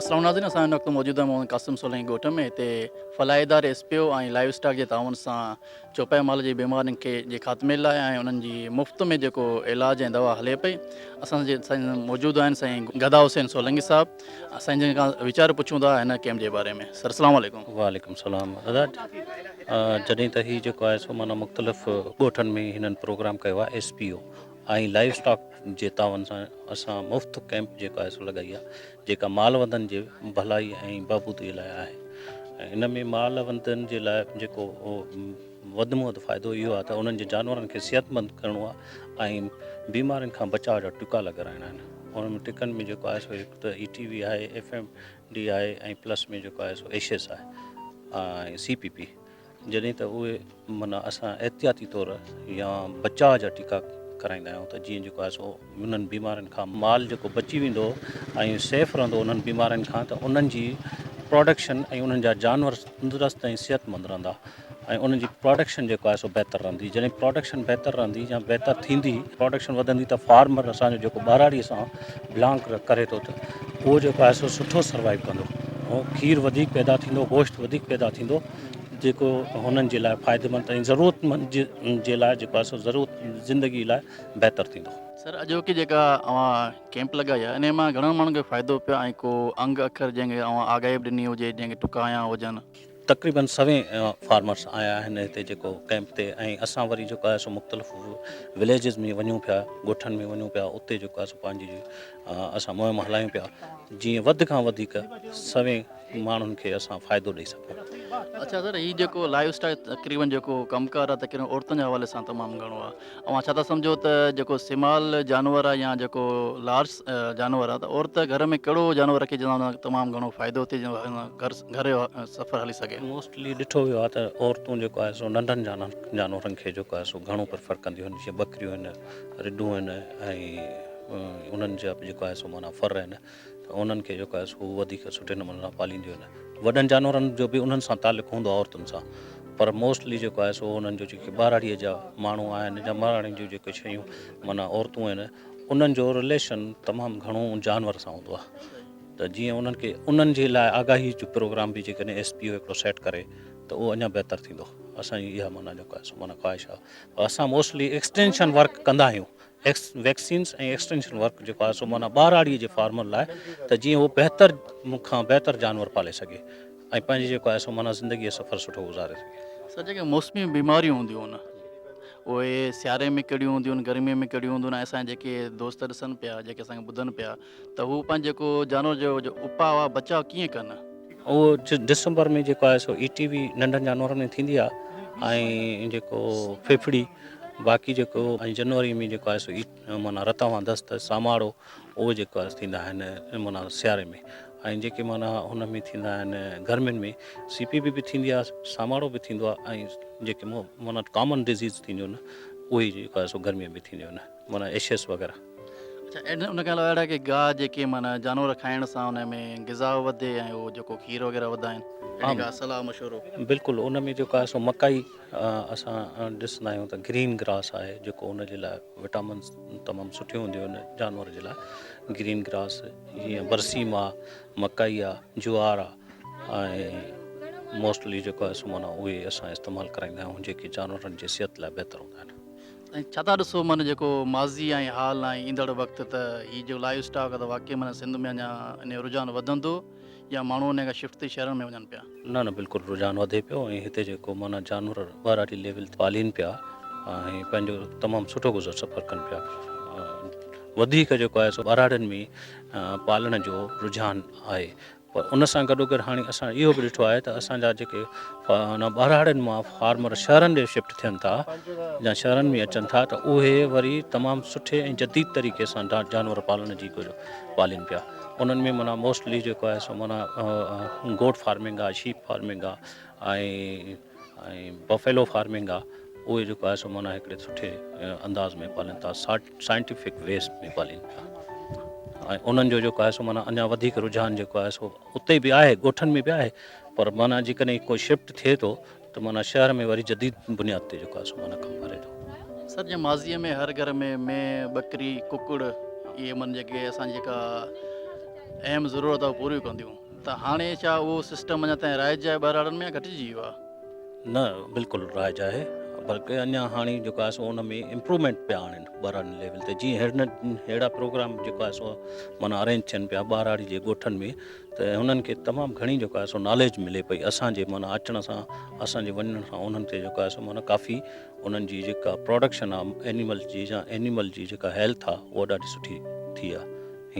اسلام ناظرين اسان هن وقت موجود آهيون محمد قاسم سولنگي ڳوٺ ۾ هتي فلاح اداري S P O ۽ livestock جي تعاون سان چوپايو مال جي بيمارين کي جي خاتمي لاء ۽ انهن جي مفت ۾ جيڪو علاج ۽ دوا هلي پئي اسان سان موجود آهن سائين گدا حسين سولنگي صاحب اسان جن کان ويچار پڇون ٿا هن ڪيمپ جي باري ۾ سر اسلام عليڪم وعليڪم السلام ادا جڏهن ته هي جيڪو آهي سو مانا مختلف ڳوٺن ۾ هنن پروگرام ڪيو آهي S P O ۽ life stock جي تعاون سان اسان مفت ڪيمپ جيڪا آهي سو لڳائي آهي جيڪا مال وندن جي ڀلائي ۽ بهبودي لاء آهي ان ۾ مال وندن جي لاء جيڪو وڌ ۾ وڌ فائدو اهو آهي ته انهن جي جانورن کي صحتمند ڪرڻو آهي ۽ بيمارين کان بچاء جا ٽڪا لڳرائڻا آهن انهن ۾ ٽڪن ۾ جيڪو آهي سو هڪ ته اي ٽي وي آهي ايف ايم ڊي آهي ۽ پلس ۾ جيڪو آهي سو ايشيس آهي ۽ سي پي پي جڏهن ته اهي معنيٰ اسان احتياطي طور يا بچاء جا ٽڪا ڪرائيندا آهيون ته جيئن جيڪو آهي سو انهن بيمارين کان مال جيڪو بچي ويندو ۽ سيف رهندو انهن بيمارين کان ته انهن جي پراڊڪشن ۽ انهن جا جانور تندرست ۽ صحت مند رهندا ۽ انهن جي پراڊڪشن جيڪو آهي سو بهتر رهندي جڏهن پراڊڪشن بهتر رهندي يا بهتر ٿيندي پراڊڪشن وڌندي ته فارمر اسان جو جيڪو ٻهراڙي سان بلانگ ڪري ٿو ته اهو جيڪو آهي سو سٺو سروائيو ڪندو هو کير وڌيڪ پيدا ٿيندو گوشت وڌيڪ پيدا ٿيندو جيڪو هنن جي لاء فائديمند ۽ ضرورتمند جي لاء جيڪو آهي سو ضرورت زندگي لاء بهتر ٿيندو. سر اڄوڪي جيڪا اوهان ڪيمپ لڳائي آهي انهي مان گهڻن ماڻهن کي فائدو پيو ۽ ڪو انگ اکر جنهن کي اوهان آگاهي به ڏني هجي جنهن کي ٽڪايان هجن. تقريبن سوين فارمرس آيا آهن هتي جيڪو ڪيمپ تي ۽ اسان وري جيڪو آهي سو مختلف وليجز ۾ وڃون پيا ڳوٺن ۾ وڃون پيا اتي جيڪو آهي سو پنهنجي اسان مهم هلايون پيا جيئن وڌ کان وڌيڪ سوين ماڻهن کي اسان فائدو ڏئي سگهون. اڇا سر هي جيڪو لائيو اسٽاڪ تقريبن جيڪو ڪم ڪار آهي تقريبن عورتن جي حوالي سان تمام گهڻو آهي اوهان ڇا ٿا سمجهو ته جيڪو سمال جانور آهي يا جيڪو لارج جانور آهي ته عورت گهر ۾ ڪهڙو جانور رکي جنهن سان تمام گهڻو فائدو ٿئي گهر جو سفر هلي سگهي. موسٽلي ڏٺو ويو آهي ته عورتون جيڪو آهي سو ننڍن جانورن کي جيڪو آهي سو گهڻو پريفر ڪنديون آهن جيئن ٻڪريون آهن رڍون آهن ۽ انهن جا جيڪو آهي سو معنيٰ ڦر آهن ته انهن کي جيڪو آهي سو هو وڌيڪ سٺي نموني سان پالينديون آهن. وڏن جانورن جو به انهن سان تعلق هوندو آهي عورتن سان پر موسٽلي جيڪو آهي سو انهن جو جيڪي ٻهراڙيء جا ماڻهو آهن جا ٻهراڙين جون جيڪي شيون معنيٰ عورتون آهن انهن جو رليشن تمام گهڻو ان جانور سان هوندو آهي ته جيئن انهن کي انهن جي لاء آگاهي جو پروگرام به جيڪڏهن ايس پي او هڪڙو سيٽ ڪري ته اهو اڃا بهتر ٿيندو اسان جي اها معنيٰ جيڪو آهي سو معنيٰ خواهش آهي اسان موسٽلي ايڪسٽينشن ورڪ ڪندا آهيون ويڪسينز ۽ ايڪسٽينشن ورڪ جيڪو آهي سو معنيٰ ٻهراڙيء جي فارمن لاء ته جيئن هو بهتر کان بهتر جانور پالي سگهي ۽ پنهنجي جيڪو آهي سو معنيٰ زندگيء جو سفر سٺو گذاري سگهي. سر جيڪي موسمي بيماريون هونديون هن اهي سياري ۾ ڪهڙيون هونديون آهن گرميء ۾ ڪهڙيون هونديون آهن ۽ اسان جيڪي دوست ڏسن پيا جيڪي اسان کي ٻڌن پيا ته هو پنهنجو جيڪو جانور جو اپاء آهي بچاء ڪيئن ڪن. اهو ڊسمبر ۾ جيڪو آهي سو اي ٽي وي ننڍن جانورن ۾ ٿيندي آهي ۽ جيڪو ڦڦڙي باقي جيڪو ۽ جنوري ۾ جيڪو آهي سو اي معنيٰ رتا وان دست ساماڙو اهو جيڪو آهي ٿيندا آهن معنيٰ سياري ۾ ۽ جيڪي معنيٰ هن ۾ ٿيندا آهن گرمين ۾ سي پي بي به ٿيندي آهي ساماڙو به ٿيندو آهي ۽ جيڪي معنيٰ ڪامن ڊزيز ٿينديون آهن اهي جيڪو آهي سو گرمين ۾ ٿينديون آهن معنيٰ ايشيس وغيره. اڇا ان ان کان علاوه اهڙا ڪي گاهه جيڪي معنيٰ جانور کائڻ سان ان ۾ غذا وڌي ۽ اهو جيڪو کير وغيره وڌا آهن اهڙي ڪا صلاح مشورو. بلڪل ان ۾ جيڪو آهي سو مڪائي اسان ڏسندا آهيون ته گرين گراس آهي جيڪو ان جي لاء وٽامنس تمام سٺيون هونديون آهن جانور جي لاء گرين گراس جيئن برسيم آ مڪائي آ جوار آ ۽ موسٽلي جيڪو آهي سو معنيٰ اهي اسان استعمال ڪرائيندا آهيون جيڪي جانورن جي صحت لاء بهتر هوندا آهن. ۽ ڇا ٿا ڏسو معنيٰ جيڪو ماضي ۽ حال ۽ ايندڙ وقت ته هي جو لائيو اسٽاڪ ته واقعي معنيٰ سنڌ ۾ اڃا ان جو رجحان وڌندو يا ماڻهو انهي کان شفٽ ٿي شهرن ۾ وڃن پيا؟ نه نه بلڪل رجحان وڌي پيو ۽ هتي جيڪو معنيٰ جانور ٻهراڙي ليول تي پالين پيا ۽ پنهنجو تمام سٺو گذر سفر ڪن پيا وڌيڪ جيڪو آهي سو ٻهراڙين ۾ پالڻ جو رجحان آهي پر ان سان گڏوگڏ هاڻي اسان اهو به ڏٺو آهي ته اسان جا جيڪي ٻهراڙين مان فارمر شهرن ڏي شفٽ ٿين ٿا يا شهرن ۾ اچن ٿا ته اهي وري تمام سٺي ۽ جديد طريقي سان جانور پالڻ جي ڪجهه پالين پيا انهن ۾ منا موسٽلي جيڪو آهي سو منا گوٽ فارمنگ آ شيپ فارمنگ آ بفيلو فارمنگ آ اهي جيڪو آهي سو منا هڪڙي سٺي انداز ۾ پالين ٿا سائنٽيفڪ ويز ۾ پالين پيا ۽ انهن جو جيڪو آهي سو مانا اڃا وڌيڪ رجحان جيڪو آهي سو اتي به آهي ڳوٺن ۾ به آهي پر مانا جيڪڏهن ڪو شفٽ ٿئي ٿو ته مانا شهر ۾ وري جديد بنياد تي جيڪو آهي سو مانا ڪم ڪري ٿو سر جي ماضي ۾ هر گهر ۾ مين ٻڪري ڪڪڙ اهي من جيڪي اسان جيڪا اهم ضرورت آهي پوريون ڪنديون ته هاڻي ڇا اهو سسٽم اڃا تائين رائج آهي ٻهراڙن ۾ يا گهٽجي ويو آهي نه بلڪل رائج آهي بلڪه اڃا هاڻي جيڪو آهي سو ان ۾ امپرومينٽ پيا آڻين ٻاراڙي ليول تي جي هن ههڙا پروگرام جيڪو آهي سو مانا ارينج ٿين پيا ٻاراڙي جي ڳوٺن ۾ ته هنن کي تمام گهڻي جيڪو آهي سو ناليج ملي پئي اسان جي مانا اچڻ سان اسان جي وڃڻ سان انهن کي جيڪو آهي سو مانا ڪافي انهن جي جيڪا پروڊڪشن آهي اينيمل جي يا اينيمل جي جيڪا هيلٿ آهي اها ڏاڍي سٺي ٿي آهي